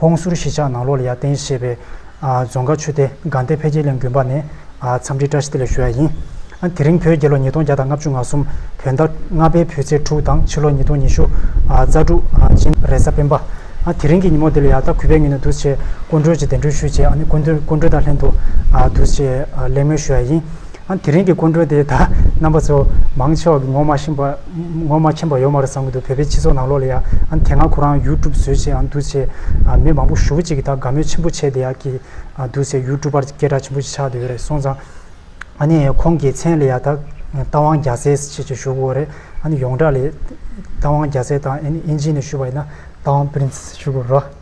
ཧོང་ཟུར་གཞིས་ཆགས་ནང་ལོག་ལ་ཡར་བརྟེན་ཞེས་པའི་རྫོང་དགའ་ཆུ་སྟེ་སྒང་སྡེ་འཕེལ་རྒྱས་གླིང་དགོན་པ་ནས་འཚམས་འདྲི་བཀྲ་ཤིས་བདེ་ལེགས་ཞུ་ཡ་ཡིན། དེ་རིང་བོད་རྒྱལ་ལོ་ཉིས་སྟོང་བརྒྱ་དང་ལྔ་བཅུ་ང་གསུམ་བོད་ཟླ་ལྔ་པའི་བུ་ཚེས་དྲུག་དང་ཕྱི་ལོ་ཉིས་སྟོང་ཉི་ཤུ་རྩ་དྲུག་སྤྱན་རས་གཟའ་སྤེན་པ། དེ་རིང་གི་ཉིན་མོ་འདི་ལ་ཡང་དག་གུས་པའི་ངོས་ནས་འདུ་བྱེད་སྐུ་མགྲོན་གྱི་གདན་འདྲེན་ཞུས་རྗེས་སྐུ་མགྲོན་དང་ལྷན་དུ་འདུ་བྱེད་གླེང་མོལ་ཞུ་ཡ་ཡིན། ཨང། དེ་རིང་གི་སྐུ་མགྲོན་དེ་ད་རྣམ་པ་ཚོ་མང་ཕྱོགས་ཀྱི་ངོ་མ་ཤེས་ངོ་མ་མཁྱེན་པ་ཡོད་མ་རེད་བསམ་གྱི་འདུག་བོད་པའི་སྤྱི་ཚོགས་ནང་ལོགས་ལ་ཡ་ཨང་དེ་སྔ་ཁོ་རང་ཡུལ་གྲུབ་བཟོས་ཆེད་ཨང་འདུག་ཆེ་ཨང་མི་མང་པོ་ཞུ་བོ་ཅིག་གི་ད་དགའ་མོས་ཆེན་པོ་བྱས་དེ་ཡ་གི་ཨང་འདུག་ཆེ་ཡུལ་གྲུབ་པར་སྐད་གྲགས་ཆེན་པོ་ཞིག་ཆགས་དེ་ཡོད་རེད་སོང་ཙང་ཨང་ནི་ཁོང་གི་མཚན་ལ་ཡ་ད་རྟ་དབང་རྒྱ་བཟས་ཆེད་ཅིག་ཞུ་དགོས་རེད་ཨང་ནི་ཡོངས་གྲགས་ལས་རྟ་དབང་རྒྱ་བཟས་དང་ཨིན་ཇི་ནི་ཞུ་བ་ཡིན་ན་རྟ་དབང Prince ཞུ་དགོས་རེད།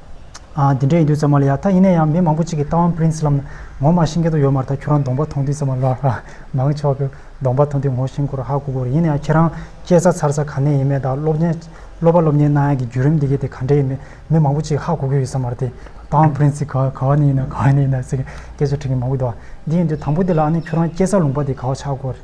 ཨ། འདི་འདྲ་ཡིན་དུས་ཙམ་མ་ལ་ཡ། ད་ཡིན་ན་ཡང་མི་མང་པོ་གཅིག་གིས་རྟ་ཝང་ཕི་རིན་སི་ལམ་ན་ངོ་མ་ཤིང་སྐད་དུ་ཡོད་མ་ཐག་ཁྱོད་རང་གདོང་པ་མཐོང་དུས་ཙམ་མ་ལ་ཧ། མང་ཆོག་གི་གདོང་པ་མཐོང་དུས་ངོ་ཤིང་སྐོར་ཧ་གོ་གོ་རེད་ཡིན་ན་ཡང་ཁྱེད་རང་སྐྱེས་ས་འཚར་ས་ག་ནས་ཡིན་མེད་དང་སློབ་གཉེར་སློབ་པ་སློབ་གཉེར་གནང་ཡག་གི་བརྒྱུད་རིམ་འདི་གས་དེ་ག་འདྲ་ཡིན་མེད་མི་མང་པོ་གཅིག་ཧ་གོ་གི་ཡོད་ས་མ་རེད་དེ། རྟ་ཝང་ཕི་རིན་སི་ག་ག་བ་ནས་ཡིན་ནམ་ག་བ་ནས་ཡིན་ནམ་ཟེར་གི་སྐད་ཆ་དྲི་གི་མང་པོ་འདུག་ཨ། འདི་ཡིན་དུས་དང་པོ་དེ་ལ་ཨ་ནི་ཁྱོད་རང་སྐྱེས་ས་ལུང་པ་དེ་ག་བ་ཆགས་གོ་རེད།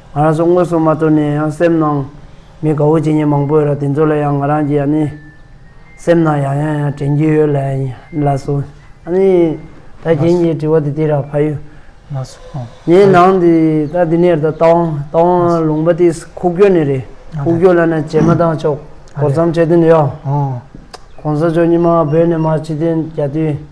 ང་རང་ཚོ་དངོས་སུ་མ་ཐུག་ནས་ཡང་སེམས་ནང་མི་དགའ་བོ་བྱེད་མཁན་མང་པོ་ཡོད་ར་དེ་ཚོ་ལ་ཡང་ང་རང་གིས་ཡང་ནི་སེམས་ནང་ཡང་ཡང་ཡང་དྲན་གྱི་ཡོད་ལ་ལ་སོ་ཨ་ནི་ད་རྒན་གྱི་དྲི་བ་དེ་དེ་ར་ཕ་ཡུལ་མ་སོ་ངའི་ནང་དེ་ད་དེ་ནས་ར་ད་ཏང་ཏང་ལུང་པ་དེ་ཁུག་ཀྱོ་ནི་རེད་ཁུག་ཀྱོ་ལ་ན་བྱེ་མ་ཏང་ཕྱོགས་གོ་ཚམ་བྱེད་དོན་དེ་ཡང་གོང་ས་མཆོག་ཉི་མ་བོད་ནས་མར་ཕྱི་དོན་རྒྱ་དུས་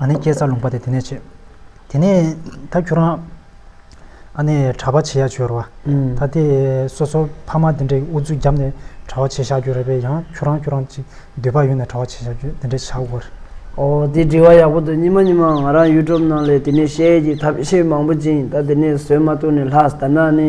ཨཱ་ནི་སྐྱེས་ཚར་ལུང་པ་དེ་དེ་ནས་བྱེད། དེ་ནས་ད་ཁྱོད་རང་ཨཱ་ནི་གྲྭ་པ་བྱེད་ཡ་བྱོས་ར་བ། ད་དེ་སོ་སོ་ཕ་མ་དེ་འདྲས་ཀྱི་འུ་ཚུགས་བརྒྱབ་ནས་གྲྭ་བ་བྱེད་བཞག་རྒྱུ་རེད་པས་ཡང་ཁྱོད་རང་ཁྱོད་རང་ཅིག་འདོད་པ་ཡོད་ནས་གྲྭ་བ་བྱེད་བཞག་རྒྱུ་དེ་འདྲས་བྱ་དགོས་རེད། ཨོ་དེ་དྲི་བ་ཡག་པོ་འདུག་ཉི་མ་ཉི་མ་ང་རང YouTube ནང་ལས་དེ་ནས་བཤད་ཡས་ཀྱི་ཐབས་ཤེས་མང་པོ་བྱིན་ད་དེ་ནས་བཟོད་མ་ཐུག་ནས་ལྷགས་ད་ནའ་ནི།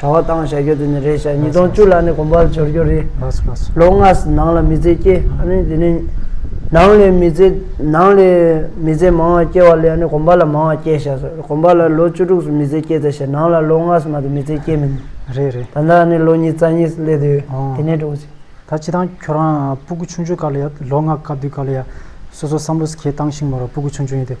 གྲྭ་བ་བཏང་བཞག་རྒྱུ་དེ་ནི་རེད་བཞག་ཉིས་སྟོང་བཅུ་ལ་ནི་གོམ་པ་འབྱོར་རྒྱུ་རེད། ལོ་ལྔ་ནང་ལ་མི་ཚེ་སྐྱེ་ཨ་ནི་དེ་ནི་ནང་ལས་མི་ཚེ་ནང་ལས་མི་ཚེ་མང་བ་སྐྱེ་བ་ལས་ཨ་ནི་གོམ་པ་ལ་མང་བ་སྐྱེ་བཞག་སོ་གོམ་པ་ལ་ལོ་བཅུ་དྲུག་སུ་མི་ཚེ་སྐྱེ་ད་བཞག་ནང་ལ་ལོ་ལྔ་སུ་མ་དེ་མི་ཚེ་སྐྱེ་མི་ནུས། རེད་རེད། ད་ནི་ཨ་ནི་ལོ་གཉིས་རྩ་གཉིས་སུ་སླེབས་དུས་དེ་ནས་འགྲོ་གི། ད་ཁྱེད་རང་ཁྱོད་རང་སྤུ་གུ་ཆུང་ཆུང་སྐབས་ལ་ཡ་ལོ་ལྔ་སྐབས་དུས་སྐབས་ལ་ཡ་སོ་སོ་བསམ་བློ་ཁྱེད་བཏང་ཤིང་མོ་རང་སྤུ་གུ་ཆུང་ཆུང་ཡིན་དུས།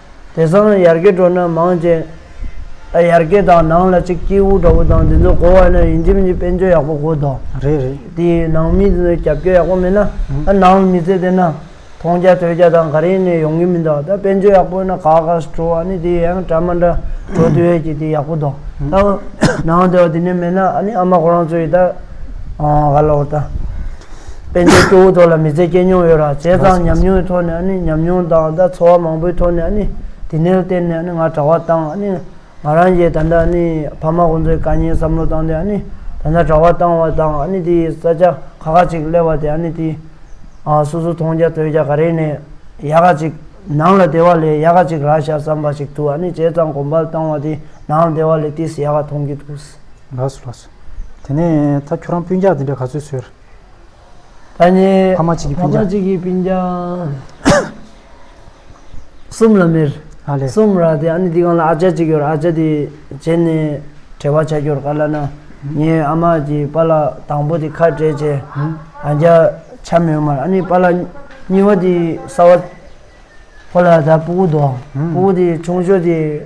དེ་སང་ཡར་གེ་བྲོ་ན་མང་ཅན། ཨ་ཡར་གེ་དང་ནང་ལ་གཅིག་སྐྱེས་བུ་འདྲ་བོ་དང་དེ་ཚོ་གོ་བ་ན་ཡིན་གྱི་མི་འཇིག་དཔེ་འཇོན་ཡག་པོ་གོ་དོ། རེད་རེད། དེ་ནང་མི་ཚོས་རྒྱབ་སྐྱོར་ཡག་པོ་མེད་ན་ཨ་ནང་ལ་མི་ཚེ་བསྡད་ན་མཐོང་རྒྱ་ཐོས་རྒྱ་དང་ག་རེ་ནས་ཡོང་གི་མི་འདུག་ད་དཔེ་འཇོན་ཡག་པོ་ཡོད་ན་ག་ག་སུ་བྲོ་བ་ནི་དེ་ཡང་གྲ་མ་འདྲ་བྲོ་དེ་བས་ཀྱི་དེ་ཡག་པོ་འདུག་ད་ནང་དེ་བ་དེ་ནས་མེད་ན་ཨ་ནི་ཨ་མ་ཁོ་རང་ཚོ་ཡི་ད། ལོག་ལྟ། དཔལ་འབྱོར་སྐྱོ་བོ་ཐོག་ལ་མི་ཚེ་སྐྱེལ་མྱོང་ཡོད་རང་བྱས་ཙང་ཉམས་མྱོང་ཐོག་ནས་ནི་ཉམས་མྱོང་དང་ད་འཚོ་བ་མང་པོའི་ཐོག་ནས་ནི་དེ་ནས་བརྟེན་ནས་ནི་ང་གྲྭ་བ་བཏང་ནི་ང་རང་གྱིས་ད་ལྟ་ནི་ཕ་མ་ཁོང་ཚོའི་དཀའ་ཉེན་བསམ་བློ་བཏང་སྟེ་ནི་ད་ལྟ་གྲྭ་བ་བཏང་བ་དང་ནི་དེ་ས་ཆ་ཁག་ཁག་ཅིག་སླེབས་པ་དེ་ནི་དེ་སོ་སོ་མཐོང་རྒྱ་ཐོས་རྒྱ་ག་རེ་ནས་ཡག་ག་ཅིག་ནང་ལ་བདེ་བ་ལས་ཡག་ག་ཅིག་རག་བཞག་བསམ་པ་ཞིག་ཏུ་ནི་བྱས་ཙང་གོམ་པ་བཏང་བ་དེ་ནང་ལ་བདེ་བ་ལས་དེ་སུ་ཡག་ག་མཐོང་གི་འདུག། ལགས་སོ་ལགས་སོ། དེ་ནས་ད་ཁྱོད་རང་སྤུན་རྒྱག་འདི་འདྲ་ག་ཚོད་ཟོས། ད་ནི་ཕ་མ་གཅིག་གི་སྤུན་རྒྱག། ཕ་མ་གཅིག་གི་སྤུན་རྒྱག། གསུམ་ལ་མེར། ཨ་ལས། གསུམ་ར་དེ་ཨ་ནི་འདི་གང་ལ་ཨ་ཅག་གཅིག་ཡོད་ཨ་ཅག་དེ་བྱས་ནས་བྲེལ་བ་བྱ་རྒྱུར་ག་ལ་ན་ངའི་ཨ་མ་གྱི་པ་ལགས་དང་པོ་དེ་ཁ་བྲལ་རྗེས་ཨ་རྒྱ་ཆ་མེད་མར་ཨ་ནི་པ་ལགས་གཉིས་པ་དེ་ས་བ་ཁོ་ལ་ད་སྤུ་གུ་འདུག་སྤུ་གུ་དེ་ཆུང་ཤོས་དེ།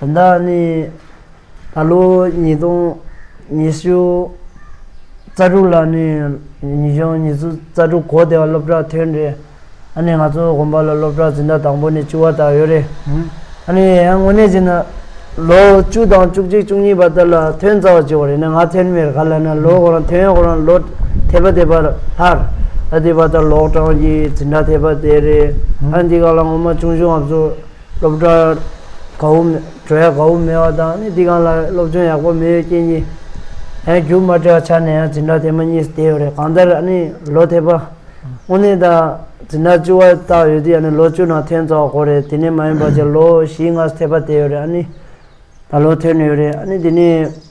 དོན་དག་ནི། ད་ལོ་ཉིས་སྟོང་ཉི་ཤུ་རྩ་དྲུག་ལ་ནི་ཉི་གཞོན་ཉི་ཤུ་རྩ་དྲུག་གོ་བདེ་བ་སློབ་གྲྭ་ཐོན་རེད། ཨ་ནི་ང་ཚོ་དགོན་པ་ལ་སློབ་གྲྭ་འཛིན་གྲྭ་དང་པོ་ནི་བཅུ་བ་དག་ཡོད་རེད། ཨ་ནི་ཡང་དངོས་གནས་བྱས་ན་ལོ་བཅུ་དང་བཅུ་གཅིག་བཅུ་གཉིས་པ་དག་ལ་ཐོན་རྩ་བ་བཅུ་བ་རེད་ན་ང་ཐོན་མེད་ག་ལ་ན་ལོ་ཁོ་རང་ཐོན་ཡོད་ཁོ་རང་ལོ་དེ་པ་དེ་པ་ལྷར་ཨ་དེ་པ་དག་ལོག་གྲངས་ཀྱི་འཛིན་གྲྭ་དེ་པ་དེ་རེད། ཨ་འདི་ག་ལ་ངོ་མ་ཆུང་ཆུང་ང་ཚོ། སློབ་གྲྭ་གའུ་གྲོལ་ཡག་གའུ་མེད་བ་དང་ནི་འདི་གང་ལ་སློབ་སྦྱོང་ཡག་པོ་མེད་ཡོད་རྐྱེན་གྱིས་ཡང་རྒྱུགས་མ་སྤྲད་བ་ཆ་ནས་ཡང་འཛིན་གྲྭ་དེ་མ་གཉིས་སུ་བསྡད་ཡོད་རེད་གང་ལྟར་ཡང་ནི་ལོ་དེ་པ་དངོས་གནས་དང་འཛིན་གྲྭ་བཅུ་བ་བཏགས་ཡོད་དུས་ཡང་ནི་ལོ་བཅུ་ནང་ཐོན་རྩ་བ་གོ་རེད་དེ་ནས་མ་ཡིན་པ་ཅིག་ལོ་བཞིའི་སྔ་ས་དེ་པ་བསྡད་ཡོད་རེད་ཨ་ནི་ད་ལོ་ཐོན་ཡོད་རེད་ཨ་ནི་དེ་ནས།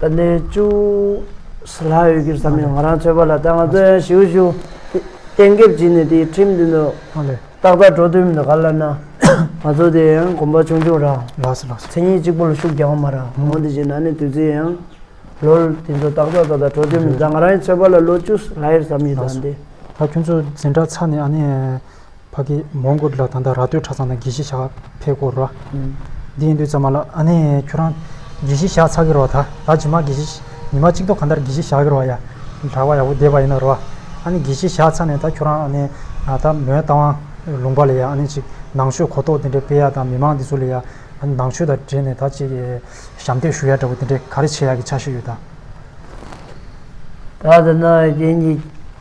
ད་ནས་ཅུང་ཟད་ལྷག་ཡོད་ཀྱི་ས་མིང་ང་རང་ཐོས་པ་ལ་ད་ང་ཚོ་ཡང་ཞིའུ་ཞུ་གཏན་འགེབས་བགྱིས་ནས་དེའི་ཁྲིམས་མདུན་དུ་ཏག་ཏག་འགྲོ་འདོད་མི་འདུག་ག་ལ་ན་ང་ཚོ་དེ་ཡང་གོམ་པ་ཆུང་ཆུང་རང་མཚན་ཉིད་གཅིག་པོ་ལ་ཤུགས་རྒྱག་མ་རང་ངོ་དེ་བཞིན་ན་ནས་དུས་ཚོད་ཡང་ལོར་དེ་ཚོ་ཏག་ཏག་ཏག་ཏག་འགྲོ་འདོད་མི་འདུག་ད་ང་རང་ཡང་ཚོད་པ་ལ་ལོ་བཅུ་ཟད་ལྷག་ཡོད་ས་མིང་ད་འདི། ད་ཁྱོད་ཚོ་འཛིན་གྲྭ་ཚར་ནས་ཨ་ནི། ཕ་གིས་མོ་མགུར་ལ་ད་ལྟ་ར་སྟོད་གྲྭ་ཚང་དང་དགེ་བཤེས་ཞག་ཕེབས་སྐོར་རོ། འདི་ཡིན་དུས་ཙམ་མ་ལ་ཨ་ནེ། ཁྱོད་རང་དགེ་བཤེས་ཞག་ཚགས་ཀྱི་རོ་ད་ད་ཇི་མ་དགེ་བཤེས་ཉི་མ་གཅིག་ཐོག་ག་འདར་དགེ་བཤེས་ཞག་གི་རོ་ཡ། གྲྭ་བ་ཡག་པོ་བསྡད་པ་ཡིན་ན་རོ། ཨ་ནེ་དགེ་བཤེས་ཞག་ཚགས་ནས་ད་ཁྱོད་རང་ཨ་ནེ། ད་མོའི་རྟ་དབང་ལུང་པ་ལས་ཡ་ཨ་ནེ་ཅིག་ནང་ཆོས་གོ་རྟོགས་དེ་འདྲའི་སྤེལ་ཡ་དང་མི་མང་འདི་ཚོ་ལས་ཡ། ནང་ཆོས་དང་འབྲེལ་ནས་ད་ཅིག་ཞབས་འདེགས་ཞུ་ཡ་འདྲ་བོ་དེ་འདྲའི་ག་རེ་བྱེད་ཡ་གི་ཆ་ཤས་ཡོད་ད། ད་ད་ནང་བའི་དེ་གཉིས།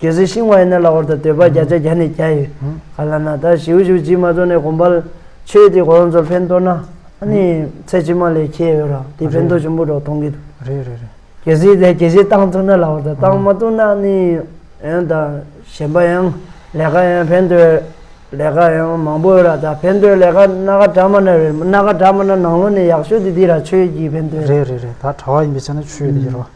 གལ་སྲིད་ཤིང་བ་ཡིན་ན་ལ་ཧོར་དང་སྟོད་པ་བརྒྱ་ཆ་བརྒྱ་ནས་བརྒྱ་ཡོད། ག་ལ་ན་ད་ཞིའུ་ཞིའུ་བྱིས་མ་ཚོ་ནས་གོམ་པ། ཆོས་དེ་གོ་རང་ཚོར་ཕན་ཐོག་ན། ཨ་ནི་ཚེ་ཕྱི་མ་ལས་ཁྱེད་ཡོད་རང་དེ་ཕན་ཐོག་ཆེན་པོ་འགྲོ་གཏོང་གི་འདུག། རེད་རེད་རེད། གལ་སྲིད་ལས་གལ་ཆེ་བཏང་ཐུབ་ན་ལ་ཧོར་དང་བཏང་མ་ཐུབ་ན་ཨ་ནི། ཡང་དང་གཞན་པ་ཡང་ལས་ཀ་ཡང་ཕན་ཐོག་ལས་ཀ་ཡང་མང་པོ་ཡོད་ར་ད་ཕན་ཐོག་ལས་ཀ་སྣ་ཁ་དྲ་མ་ནས་རེད་སྣ་ཁ་དྲ་མ་ན་ནང་ལོ་ནས་ཡག་ཤོས་དེ་དེ་ར་ཆོས་ཀྱི་ཕན་ཐོག། རེད་རེད་རེད་ད་གྲྭ་བ་ཡིན་པའི་ཆ་ནས་ཆོས་དེ་ཡོད་ར་བ།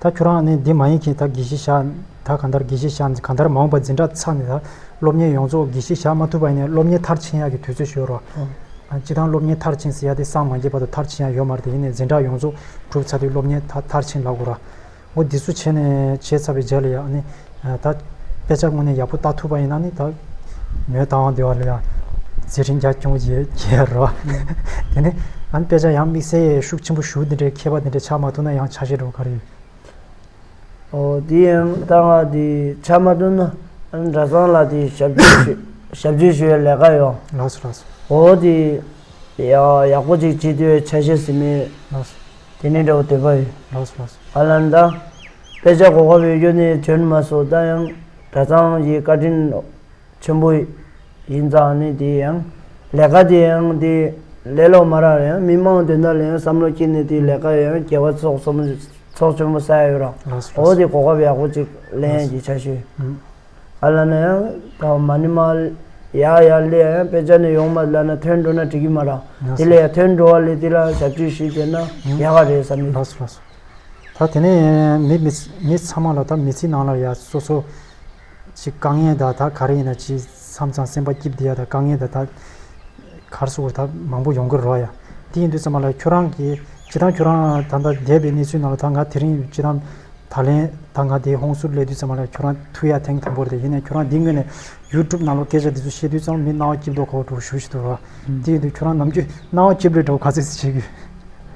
ད་ཁྱོད་རང་ནི་འདི་མ་ཡིན་གྱིས་ད་གྱིས་ཤིག་བཞག་ད་ག་འདར་གྱིས་ཤིག་བཞག་ག་འདར་མ་འོངས་པ་འཛིན་གྲྭ་ཚར་ནས་ད་སློབ་གཉེར་ཡོངས་རྫོགས་གྱིས་ཤིག་བཞག་མ་ཐུབ་པ་ཡིན་ནས་སློབ་གཉེར་མཐར་ཕྱིན་ཡག་གི་དུས་ཚོད་ཤོད་རོགས། སྤྱི་དང་སློབ་གཉེར་མཐར་ཕྱིན་ཟེར་ཡག་དེ་སངས་མ་རྒྱས་བར་དུ་མཐར་ཕྱིན་ཡག་ཡོད་མ་རེད་ཡིན་ནས་འཛིན་གྲྭ་ཡོངས་རྫོགས་གྲུབ་ཚར་དུས་སློབ་གཉེར་མཐར་ཕྱིན་ལ་གོ་རོགས། འོ་འདི་ཚོ་བྱས་ནས་བྱས་ཚར་བའི་རྗེས་ལ་ཡག་ནི་ད་དཔེ་ཆ་དངོས་ནས་ཡག་པོ་བལྟ་ཐུབ་པ་ཡིན་ན་ནི་ད་མོའི་བལྟ་དབང་དེ་བ་ལ་ཡང་ཚེ་རིང་རྒྱ་ཁྱོང་ཡི་གེ་རོ། དེ་ནས་ཨ་ནི་དཔེ་ཆ་ཡང་དམིགས་བསལ་ཤུགས་ཆེན་པོ་ཞུ་འདི་འདྲའི་མཁས་པ་འདི་འདྲས་ཆགས་མ་ཐུབ་ན་ཡང་ཆགས་བཞིན་འགྲོ་ག་རེ་ཡོད། ཨོ་དེ་ཡང་བལྟ་བ་འདི་ཆགས་མ་ཐུབ་ན་ཨ་ནི་གྲྭ་ཚང་ལ་དེ་ཞབས་བརྗོད་ཞུ་ཞབས་བརྗོད་ཞུ་བའི་ལས་ཀ་ཡོང། ལགས་སོ་ལགས་སོ། ཨོ་དེ་ཡང་ཡག་པོ་ཅིག་བྱེད་འདོད་ཆ་བཤད་ཟིན་མོད། ལགས་སོ། དེ་ནས་འདྲ་བོ་འདོད་པ་ཡོད། ལགས་སོ་ལགས་སོ། ཨ་ལ་འདང། དཔེ་ཆ་གོ་དཀའ་བའི་གཡོ་ནད་གྱོན་མ་སོ་ད་ཡང་གྲྭ་ཚང་གི་བཀའ་དྲིན་ཆེན་པོ་ཡིན་ཙང་ནི་དེ་ཡང་ལས་ཀ་དེ་ཡང་དེ་ལས་ལོག་མ་རག་ཡང་མི་མང་དེ་འདྲ་ལ་ཡང་བསམ་བློ་སྐྱེས་ནས་དེ་ལས་ཀ་ཡང་རྒྱལ་བ་ཚོགས་གསུམ་ཚོགས་ཆེན་པོ་ས་ཡ་ཡོད་རང་ཨོ་དེ་གོ་སྐབས་ཡག་པོ་ཅིག་ལེན་ཡ་གྱི་ཆ་ཤོས་ཨ་བླ་ན་ཡང་ད་མ་ནི་མ་ཡ་ཡ་ལས་ཡང་དཔེ་ཆ་ནི་ཡོང་མ་བླ་ན་ཐོན་འགྲོ་ན་འགྲིག་གི་མ་རང་དེ་ལས་ཡ་ཐོན་འགྲོ་བ་ལས་དེ་ལ་ཞབས་ཅུས་ཞིག་བྱེད་ན་ཡག་ག་རེད་བསམ་གི། ད་དེ་ནས་མི་མི་ཚང་མ་ལ་ད་མི་ཚེའི་ནང་ལ་ཡ་སོ་སོ་ཞིག་དཀའ་ངལ་དང་ད་ག་རེ་ཡིན་ན་ཇི་མཚམས་ཙང་སེམས་པ་སྐྱིད་བསྡད་ཡ་ད་དཀའ་ངལ་དང་ད་གར་སོ་ད་མང་པོ་ཡོང་གི་རོ་ཡ་དེ་ཡིན་དུས་ཙམ་མ་ལ་ཁྱོད་རང་གིས་ཇི་ད་ཁྱོད་རང་ད་ད་བསྡད་པའི་གནས་ཚུལ་ནང་ལ་ད་ང་དེ་རིང་ཇི་ད་ད་ལན་ད་ང་དེ་ཧོང་སུར་སླེབས་དུས་ཙམ་མ་ལ་ཁྱོད་རང་ཐུག་ཡ་ཐེངས་དང་པོ་རེད་ད་ཡིན་ན་ཁྱོད་རང་འདི་སྔོན་ནས YouTube ནང་ལ་སྐད་ཆ་འདི་ཚོ་བཤད་དུས་ཙམ་མི་རྣ་བ་སྐྱིད་པོ་དོག་གོ་དྲོ་ཞུ་ཞིག་འདུག་རོ་དེ་ཡིན་དུས་ཁྱོད་རང་ནམ་རྒྱུན་རྣ་བ་སྐྱིད་པོ་རེད་དྲོ་ག་ཚོད་ཅིག་བྱེད་དགོས།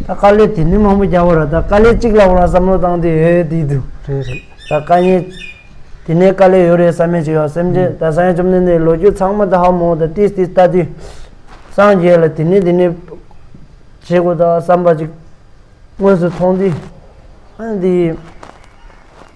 ད་དཀའ་ལས་དེ་ནས་མང་པོ་རྒྱག་པ་རེད་ད་དཀའ་ལས་གཅིག་ལ་འོ་ན་བསམ་བློ་བཏང་དུས་ཨེ་དེ་འདུག་རེད་རེད་ད་དཀའ་ཉེན་དེ་ནས་དཀའ་ལས་ཡོད་རེད་བསམ་མེད་ཅིག་ཡོད་སེམས་ཅན་ད་སངས་རྒྱས་བཅོམ་ལྡན་འདས་ལོ་རྒྱུས་ཚང་མ་ད་ཧ་མོ་ད་ཏིས་ཏིས་ལྟ་དུས་སངས་རྒྱས་ལ་དེ་ནས་དེ་ནས་བྱེད་དགོས་ད་བསམ་པ་ཅིག་དངོས་སུ་མཐོང་དུས་ཨེ་འདི།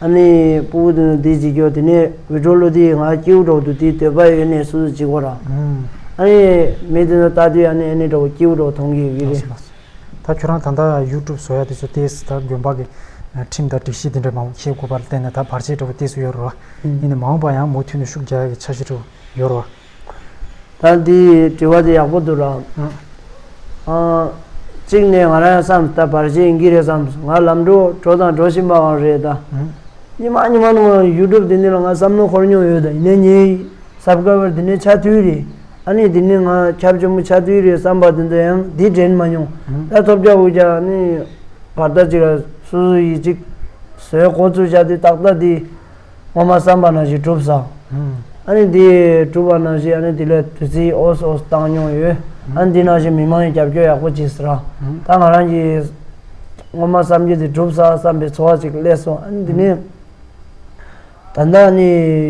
ཨ་ནི་སྤུ་གུ་དེ་ནི་དེའི་འཇིགས་སྐྱོ་དེ་ནི་འུད་སྒྲོག་གླུ་དེའི་ང་སྐྱེའུ་སྒྲོག་ཏུ་དེའི་འདོད་པ་ཡོད་ནས་སུ་སུ་འཇིགས་བ་ར། ཨ་ནི་མི་དེ་ནི་ལྟ་དུས་ཨ་ནི་ཨ་ནི་འདྲ་བོ་སྐྱེའུ་སྒྲོག་མཐོང་གི་གི་རེད། ད་ཁྱོད་རང་ད་ལྟ YouTube བཟོ་ཡ་དེ་ཚོ་དེ་ད་དགོན་པ་གི་ཁྲིམས་དང་སྒྲིག་གཞི་དེ་འདྲ་མང་བོ་ཤེས་དགོས་པ་ལ་བརྟེན་ནས་ད་བར་ཆད་འདྲ་བོ་དེ་སུ་ཡོད་རོ། ཨ་ནི་མ་འོངས་པ་ཡང་མུ་མཐུད་ནས་ཤུགས་རྒྱག་ཡ་གི་འཆར་གཞི་འདྲ་བོ་ཡོད་རོ། ད་འདི་དྲི་བ་དེ་ཡག་པོ་འདུག་རང། གཅིག་ནས་ང་རང་ཡང་བསམ་ད་བར་གཞན་ཡིན་གྱི་རེད་བསམ་སོང་ང་ལམ་འགྲོ་གྲོ་དང་འགྲོ་བཞིན་པའང་རེད་ད། ཉི་མ་ཉི་མ་ནང་ལ་ཡུལ་གྲུབ་དེ་འདི་ལ་ང་བསམ་བློ་འཁོར་མྱོང་ཡོད་ད་ཡིན་ན་ངའི་གཟབ་དཀར་བར་དེ་ནས་ཆ་དུས་རེད་ཨ་ནི་དེ་ནས་ང་ཁྱབ་ཆེན་པོ་ཆ་དུས་རེད་བསམ་པ་དེ་འདྲ་ཡང་འདི་དྲན་མ་མྱོང་ད་ཐོབ་རྒྱག་འུ་རྒྱག་ནི་བར་ཐག་ཅིག་ལ་སུ་སུ་ཡིས་ཅིག་བཟོས་གོ་ཚུལ་བྱ་དུས་ཏག་ཏག་འདི། ངོ་མ་བསམ་པ་ན་བཞིན་གྲུབ་བསམ། ཨ་ནི་དེ་གྲུབ་པ་ན་བཞིན་ཨ་ནི་དེ་ལས་དུས་ཚིགས་ཨོས་ཨོས་བཏང་མྱོང་ཡོད། ཨ་ནི་དེ་ན་བཞིན་མི་མང་གི་རྒྱབ་སྐྱོར་ཡག་པོ་བྱེད་སྲིད་རང། ད་ང་རང་གིས། ངོ་མ་བསམ་རྒྱུ་དེ་གྲུབ་བསམ་བསམ་པའི་འཚོ་བ་ཅིག་སླེབས་སོང་ཨ་ནི་དེ་ནས། ད་ལྟ་ཨ་ནི་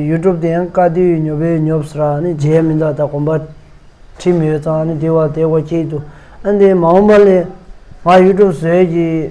ཡུལ་གྲུབ་དེ་ཡང་དཀའ་སྡུག་ཉོབ་པས་ཉོབ་སྲིད་ར་ཨ་ནི་རྗེས་མི་འདའ་ད་གོམ་པ། ཁྲིད་མི་ཡོད་ཙང་ཨ་ནི་དེ་བ་དེ་བ་ཁྱེད་དུ་ཨ་ནི་དེ་མ་འོངས་པ་ལས། ང་ཡུལ་གྲུབ་ཟོས་ཀྱི།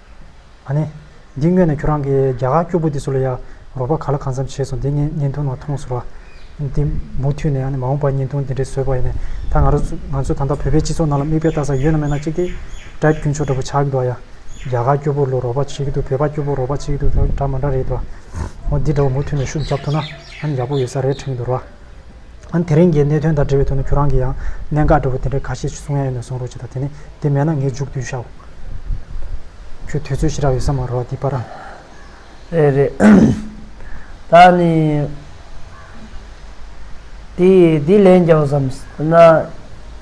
ཨ་ནེ། འདི་དངོས་ནས་ཁྱོད་རང་གི་རྒྱ་གར་སྐྱུར་པོ་འདི་ཟུར་ལ་ཡར་རོགས་པ་ག་ལ་གང་འཚམས་བྱས་སོང་འདི་ངས་བརྙན་ཐུང་ནང་མཐོང་ཟུར་བ། འདི་མུ་མཐུད་ནས་ཨ་ནེ་མ་འོངས་པར་བརྙན་ཐུང་འདི་འདྲའི་བཟོས་པ་ཡིན་ནས་ད་ང་རོ་ང་ཚོས་ད་ལྟ་བོད་པའི་སྤྱི་ཚོགས་ནང་ལ་མིག་དཔེ་ལྟ་ས་ཡོད་ན་མེད་ན་གཅིག་དེ། དྲ་རྒྱུན་ཆོག་འདྲ་པོ་ཆགས་ཀྱི་འདུག་ཨ་ཡ། རྒྱ་གར་སྐྱུར་པོ་ལོ་རོགས་པ་བྱེད་ཀྱི་འདུག་བོད་པ་སྐྱུར་པོ་རོགས་པ་བྱེད་ཀྱི་འདུག་འདྲ་མ་འདྲ་རེད་དོ། འོ་འདི་འདྲ་བོ་མུ་མཐུད་ནས་ཤུགས་རྒྱབ་ཐུབ་ན་ཨ་ནེ་ཡག་པོ་ཡོད་ས་རེད་དྲན་གྱི་འདུག་རོ་ཨ། དེ་རིང་གི་གནད་དོན་དང་འབྲེལ་བའི་ཐོག་ནས་ཁྱོད་རང་གིས་ཡང་གནད་འགག་འདྲ་བོ་དེ་འདྲ་ག་ཤེད་ཅིག་གསུང་ཡ་ཡོད་ན་གསུང་རོགས་བྱས་དང་དེ་ནས་དེ་མེད་ན་ངས་མཇུག་བསྡུས་བྱའོ། ཁྱོད་དུས་ཚོད་ཞེ་དྲག་ཡོད་ས་མ་རོ་ཨ་ཏི་པ་ར། རེད་རེད། ད་ནི། དེ་ཡིས་དེ་ལན་རྒྱག་བསམ་ཟེར་ན།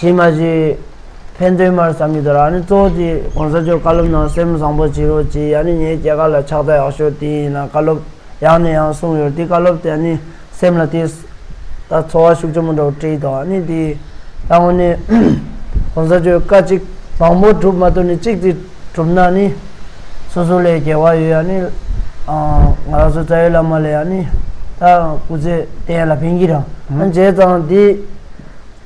བྱེད་མ་བྱེད། ཕན་དོན་མར་བསམ་གྱི་དོར་ཨ་ནི་གཙོ་བོ་དེ་གོང་ས་མཆོག་བཀའ་སློབ་ནང་སེམས་བཟང་པོ་བྱེད་རོགས་གྱིས་ཨ་ནི་ངའི་སྐྱེ་ཁ་ལ་ཕྱག་རྩ་ཡག་ཤོས་དེ་ཡིན་ལ་བཀའ་སློབ་ཡང་ནས་ཡང་གསུངས་ཡོད་དེ་བཀའ་སློབ་དེ་ཨ་ནི་སེམས་ལ་ཐིགས། ད་འཚོ་བ་ཤུགས་ཆེན་པོ་འགྲོ་བྲིས་འདུག་ཨ་ནི་དེའི་ལྟ་ངོ་ནས། གོང་ས་མཆོག་བཀའ་གཅིག་མང་པོ་གྲུབ་མ་ཐུབ་ནས་གཅིག་དེ་གྲུབ་ན་ནི། སོ་སོ་ལས་རྒྱལ་བ་ཡོད་ཨ་ནི། ང་རང་ཚོ་རྩ་བའི་བླ་མ་ལས་ཨ་ནི། ད་སྐུ་ཚེ་གཏན་ལ་ཕན་གྱི་རང་བྱས་ཙང་དེ།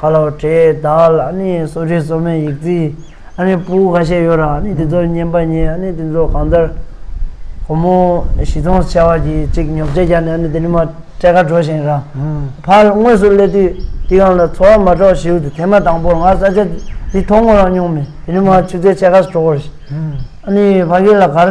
ཁ་ལོ་བྲེས་བདག་ལ་ནི་སོ་ཤིང་སོ་མའི་ཡིག་རྩིས་ཨ་ནི་སྤུ་ཁ་ཤས་ཡོད་རང་ནི་དེ་ཚོར་བསྙེན་པ་ཉེས་ཨ་ནི་དེ་ཚོ་གང་ལྟར། ཁོ་མོ་བཞི་སྟོང་བྱ་བ་གྱིས་གཅིག་ཉོབ་ཆད་བརྒྱག་ནས་ཨ་ནི་དེ་ནི་མ་སྤྲད་ཁ་དྲོ་ཞིང་རང་ཕར་དངོས་སུ་སླེབས་དུས་དེ་གང་ལ་འཚོ་བ་མ་འགྲོ་ཞེའུ་དེ་ཐེངས་མ་དང་པོར་ང་ས་ཆ་འདི་མཐོང་ངོ་རང་མྱོང་མེད་དེ་ནི་མ་ཆུ་ཚད་ཆད་ཁ་སོ་དྲོ་བར་ཞིག་ཨ་ནི་ཕ་གི་ལ་གར་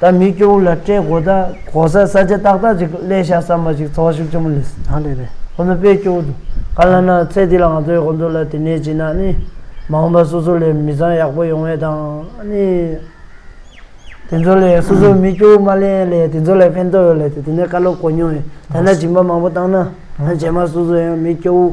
ད་མི་སྐྱོ་བོ་ལ་སྤྲད་དགོས་ད། གོ་ས་ས་ཆ་ཏག་ཏག་ཅིག་གླས་ཤག་བསམ་པ་ཞིག་ཚོགས་བཞུགས་ཆེན་མོ་ལས་ད་ལས་རེད་ཁོ་ནོ་དཔེ་སྐྱོ་བོ་འདུག་ག་ལ་ན་ཚེ་འདི་ལ་ང་ཚོའི་ཁོ་ཚོ་ལ་དེ་ནས་ཅིག་ན་ནི་མ་འོངས་པ་སོ་སོ་ལས་མི་ཚང་ཡག་པོ་ཡོང་བའི་དང་ནི་དེ་ཚོ་ལས་སོ་སོ་མི་སྐྱོ་བོ་མ་ལས་ལས་དེ་ཚོ་ལས་ཕན་ཐོག་ཡོད་ལས་ད་དེ་ནས་བཀའ་སློབ་གོ་མྱོང་ཡོད་ད་ན་སྦྱིན་པ་མང་པོ་བཏང་ན་ང་རྒྱལ་མ་སོ་སོ་ཡང་མི་སྐྱོ་བོ།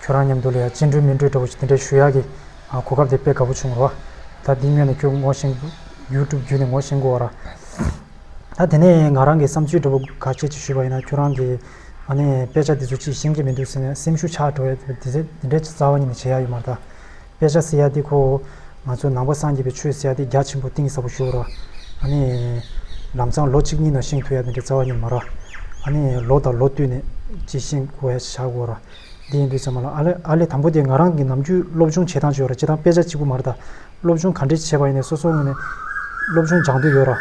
ཁྱོད་རང་མཉམ་དུ་ལ་ཡ་ཅི་འགྲོས་མི་འགྲོས་འདྲ་བོ་ཞིག་དེ་འདྲའི་ཞུ་ཡག་གི་གོ་སྐབས་དེ་དཔེ་དགའ་བོ་བྱུང་རོ། ད་འདི་སྨྱོས་ནས་ཁྱོད་ངོ་ཤེས་ཡུལ་གྲུབ་བརྒྱུད་ནས་ངོ་ཤེས་དགོ་ར། ད་དེ་ནས་ང་རང་གི་བསམ་ཚུལ་འདྲ་བོ་ག་ཁྱེད་ཀྱི་ཞུས་པ་ཡིན་ན་ཁྱོད་རང་གི་ཨ་ནི་དཔེ་ཆ་འདི་ཚོ་ཅིས་ཤེས་ཀྱི་མི་འདུག་ཟེར་ནས་སེམས་ཤུགས་ཆག་འགྲོ་ཡ་དེ་ཚེ་དེ་འདྲའི་རྩ་བ་ཉིད་ནས་བྱེད་ཡག་ཡོད་མ་རེད་ད། དཔེ་ཆ་སེ་ཡ་དེ་ཁོ་བོ་ང་ཚོ་ནང་པ་སངས་རྒྱས་པའི་ཆོས་སེ་ཡ་དེ་རྒྱ་ཆེན་པོ་གཏིང་ཟབ་པོ་ཞུ་ར། ཨ་ནི། ལམ་སང་ལོ་གཅིག་གཉིས་ནང་ཤེས་ཐུབ་ཡ་དེ་འདྲའི་རྩ་བ་ཉིད་མ་ར། ཨ་ནི་ལོ་དང་ལོ་བསྟུད་ནས་ཅིས་ཤེས་དགོ་ཡ་བྱ་དགོ་ར། འདི་ཡིན་འདུག་ཟེར་མ་ལ། ཨ་ལས་དང་པོ་དེ་ང་རང་གི་ནམ་རྒྱུན་སློབ་སྦྱོང་བྱེད་སྟངས་ཅིག་ཡོད་ར་བྱེད་སྟངས་དཔེ་ཆ་གཅིག་པུ་མ་རེད་ད། སློབ་སྦྱོང་ག་འདྲས་བྱེད་པ་ཡིན་ནས་སོ་སོའི་ངོས་ནས་སློབ་སྦྱོང་སྦྱང་འདོད་ཡོད་ར།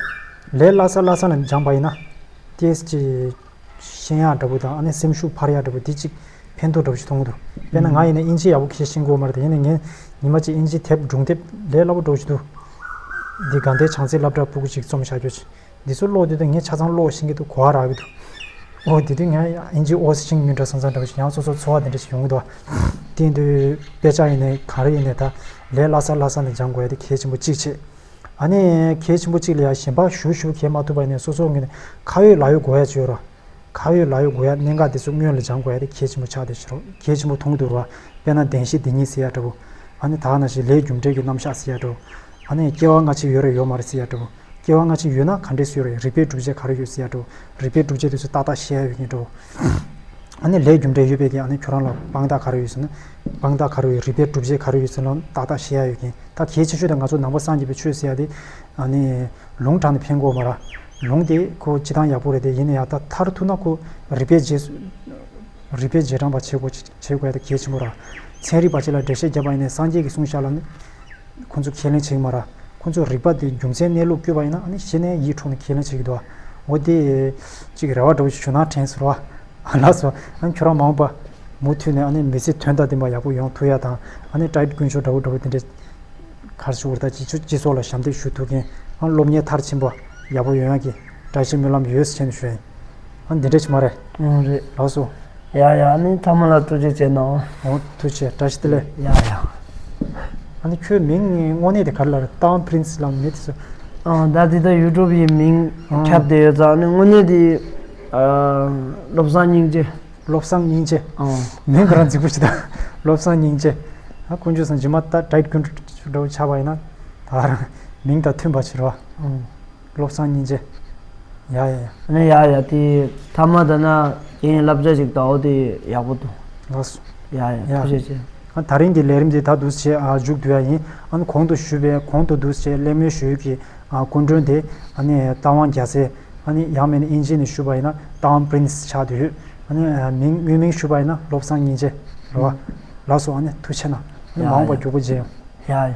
ལས་སླ་ས་སླ་ས་ནས་སྦྱངས་པ་ཡིན་ན། ཏིས་ཀྱི། ཤེས་ཡག་འདྲ་པོ་དང་ཨ་ནེ་སེམས་ཤུགས་འཕར་ཡག་འདྲ་པོ་འདི་གཅིག་ཕན་ཐོགས་འདྲ་པོ་ཞིག་མཐོང་གི་འདུག་དཔེར་ན་ང་ཡིན་ན་དབྱིན་ཇི་ཡག་པོ་ཤེས་ཤེས་དགོས་མ་རེད་ད་ཡིན་ན་ངས་ཉི་མ་གཅིག་དབྱིན་ཇི་དེབ་སྒྲུང་དེབ་ལས་སླ་པོ་སྒྲོག་བཞིན་འདུག། འདི་དགའ་ལྡན་བྱང་རྩེའི་བླ་བྲག་སྤུ་གུ་གཅིག་རྩོམ་བྱ་རྒྱུ། འདི་ཚོ་ཀློག་དུས་དང་ངས་ཆ་ཚང་ཀློག་བཞིན་གྱི་འདུག་གོ་བ་རག་གི་འདུག་འོ་དེ་དུས་ང་ཨིན་ཇིའི་ཨོ་ཤིང་ཉུང་དྲག་ས་ཚང་འདྲ་བ་ཞིག་ཡང་སོ་སོར་འཚོ་བ་འདི་འདྲ་ཞིག་ཡོང་གི་འདུག་དེ་དུས་དཔེ་ཆ་ཡིན་ནས་གང་རེ་ཡིན་ནས་ད་ལས་སླ་སར་སླ་སར་ནས་སྦྱང་དགོས་ཡ་དེ་གལ་ཆེན་པོ་གཅིག་བྱས་ཨ་ནི་གལ་ཆེན་པོ་གཅིག་ལ་ཡང་ཞེན་པ་ཞུ་ཞུ་གས་མ་ཐུབ་པ་ཡིན་ནས་སོ་སོ་ངོས་ནས་ཁ་ཡོད་ལག་ཡོད་གོ་ཡ་བྱོས་རོགས་ཁ་ཡོད་ལག་ཡོད་གོ་ཡ་གནད་འགག་འདི་ཚོ་སྔོན་ལ་སྦྱང་དགོས་ཡ་དེ་གལ་ཆེན་པོ་ཆགས་འདུག་ཤི་རོགས་གལ་ཆེན་པོ་མཐོང་གི་འདུག་རོགས་དཔེ་ན་བདེན་བཞི་འདི་གཉིས་ཟེར་ཡ་འདྲ་བོ་ཨ་ནི་དག་ན་ཞིག་ལས་རྒྱུ་འབྲས་ཀྱི་རྣམ་གཞག་ཟེར་ཡ་འདྲ་བོ་ཨ་ནི་སྐྱེ་བ་སྔ་ཕྱི་ཡོད་རེ་ཡོད་མ་རེ་ཟེར་ཡ་འདྲ་བོ། སྐྱེ་བ་སྔ་ཕྱི་ཡོད་ན་ག་འདྲས་སུ་རེད་རིག་པའི་སྒྲུབ་བྱེད་ག་རེ་ཡོད་ཟེར་ཡ་འགྲོ། རིག་པའི་སྒྲུབ་བྱེད་དེ་ཚོ་ཏག་ཏག་བཤད་ཡ་ཡོད་ཀྱིན་འགྲོ། ཨ་ནི་ལྷའི་རྒྱུ་འབྲས་ཡོད་པས་ཀྱིན་ཨ་ནི་ཁྱོད་རང་ལ་དཔང་རྟགས་ག་རེ་ཡོད་ཟེར་ན། དཔང་རྟགས་ག་རེ་ཡོད་རིག་པའི་སྒྲུབ་བྱེད་ག་རེ་ཡོད་ཟེར་ན་ཏག་ཏག་བཤད་ཡ་ཡོད་ཀྱིན་ད་གལ་ཆེ་ཤོས་དེ་ང་ཚོ་ནང་པ་སངས་རྒྱས་པའི་ཆོས་ཟེར་ཡ་དེ། ཨ་ནི། ལུང་དྲངས་ནས་ཕན་གོ་མ་ར། ལུང་དེ་ཁོ་སྤྱི་སྟངས་ཡག་པོ་རེད་དེ་ཡིན་ན་ཡང་ད་མཐར་ཐུག་ན་ཁོ་རིག་པའི་རྗེས། རིག་པའི་རྗེས་འབྲང་པ་བྱེད་དགོས། བྱེད་དགོས་ད་གལ་ཆེན་པོ་ར། ཚན་རིག་པ་གཅིག་ལ་འགྲེལ་བཤད་བརྒྱབ་པ་ཡིན་ནས་སངས་རྒྱས་ཀྱི་གསུང་བཞག་ལ། ཁོ་ཚོ་ཁས་ལེན་བྱེད་ཀྱི་མ་ར། ཁོ་ཚོས་རིག་པ་དེ་རྒྱུ་མཚན་གནས་ལུགས་བསྐྱོད་པ་ཡིན་ན་ནི་གཞི་ནས་ཡིད་འཕྲོག་ནས་ཁས་ལེན་བྱེད་ཀྱི་འདུག་ཨ། འོ་དེ། གཅིག་རེ་བ་འདྲ་བོ་ཞིག་བྱུང་ན་དྲན་ཟེར་བ། ཨ་ལགས་སོ། ཨ་ཁྱོད་རང་མང་པོ། མུ་མཐུད་ནས་ཨ་ནི་མི་ཚེ་དོན་དང་ལྡན་པ་ཡག་པོ་ཡོང་ཐུག་ཡ་དང་ཨ་ནི་བཀྲ་དཀོན་མཆོག་འདྲ་བོ་འདྲ་བོ་དེ་འདྲས། གར་ཕྱི་འུར་ད་ཅིག་ཆུ་སྤྱི་ཚོགས་ལ་ཞབས་འདེགས་ཞུ་ཐུག་མཁན་ཨ་སློབ་གཉེར་མཐར་ཕྱིན་པ་ཡག་པོ་ཡོང་ཡག་གི་བཀྲ་ཤིས་སྨོན་ལམ་ཡོད་སེམས་ཞུ་ཨེ། ཨ་འདི་འདྲ་ཆི་མ་རེད། ཨང་རེད། ལགས་སོ། ཡ་ཡ་ཨ་ནི་ཐ་མ་ལ་ཐུགས་རྗེ་ཆེ་གནང། ཨོ་ཐུགས་ཆེ་བཀྲ་ཤིས་བདེ་ལེགས། ཡ་ཡ། ཨ་ནི་ཁྱོའི་མིང་དངོས་གནས་དེ་ག་རེ་ལ་རེད་ཏང Prince ལམ་མེད་དེ་ཚོ། ཨང་ད་དེ་ད YouTube ཡི་མིང་ཁྱབ་བསྡད་ཡོད་ཙང་ཨ་ནི་དངོས་གནས་དེ། བློ་བཟང་སྙིང་རྗེ། བློ་བཟང་སྙིང་རྗེ། ཨང། མིང་ག་རང་རྫིག་པོ་ཞིག་ད། བློ་བཟང་སྙིང་རྗེ། ཨ་དཀོན་མཆོག་སང་ཇི་མ་ད་དྲ་རྒྱུན་འདྲ་བོ་ཆགས་པ་ཡིན་ན། ད་རང་མིང་དང་མཐུན་པ་བྱེད་རོགས། ཨང། བློ་བཟང་སྙིང་རྗེ། ཡ་ཡ་ཡ། ཨ་ནི་ཡ་ཡ་དེ་ཐ་མ་ད་ན་ཁྱེད་ཡིན་བསླབ་བྱ་ཞིག་དྭོགས་དེ་ཡག་པོ་འདུག་ལགས་སོ། ཡ་ཡ་ཡ། ཐུགས་རྗེ་ཆེ། ཨ་ད་རིང་གི་ལས་རིམ་དེ་ད་འདུག་ཆེད་འཇུག་དུས་ཡ་ཡིན་ཨ་ནི་གོང་དུ་ཞུས་པའི་གོང་དུ་འདུག་ཆེད་གླེང་མོལ་ཞུ་ཡུལ་གྱི་སྐུ་མགྲོན་དེ་ཨ་ནི་རྟ་དབང་རྒྱ་ཚེ་ཨ་ནི་ཡང་མེད་ན་དབྱིན་ཇི་ནས་ཞུས་པ་ཡིན་ན་རྟ་དབང Prince ཆགས་དུས་ཨ་ནི་མིང་དངོས་མིང་ཞུས་པ་ཡིན་ན་བློ་བཟང་སྙིང་རྗེ། རེ་བ། ལགས་སོ་ཨ་ནི་ཐུགས་ཆེ་ན་ཨ་ནི་མ་འོངས་པར་རྒྱུག་པོ་བརྗེད་ཡོང། ཡ་ཡ།